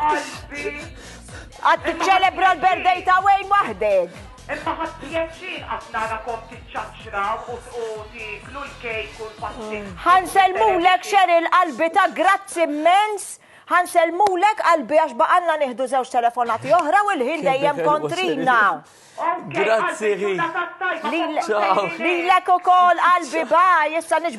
Qalbi. Għad tiċċelebra l-birthday ta' Wayne waħdek. Imma ħadd pjaċir qatt narakom tiċċaċċraw u u tiklu l-kejk u l-pastin. Ħanselmulek Cheryl qalbi ta' grazzi immens. Ħanselmulek qalbi għax baqalna nieħdu żewġ telefonati oħra u l-ħin dejjem kontrina. Grazzi ħi. Lilek ukoll qalbi baj, issa niġ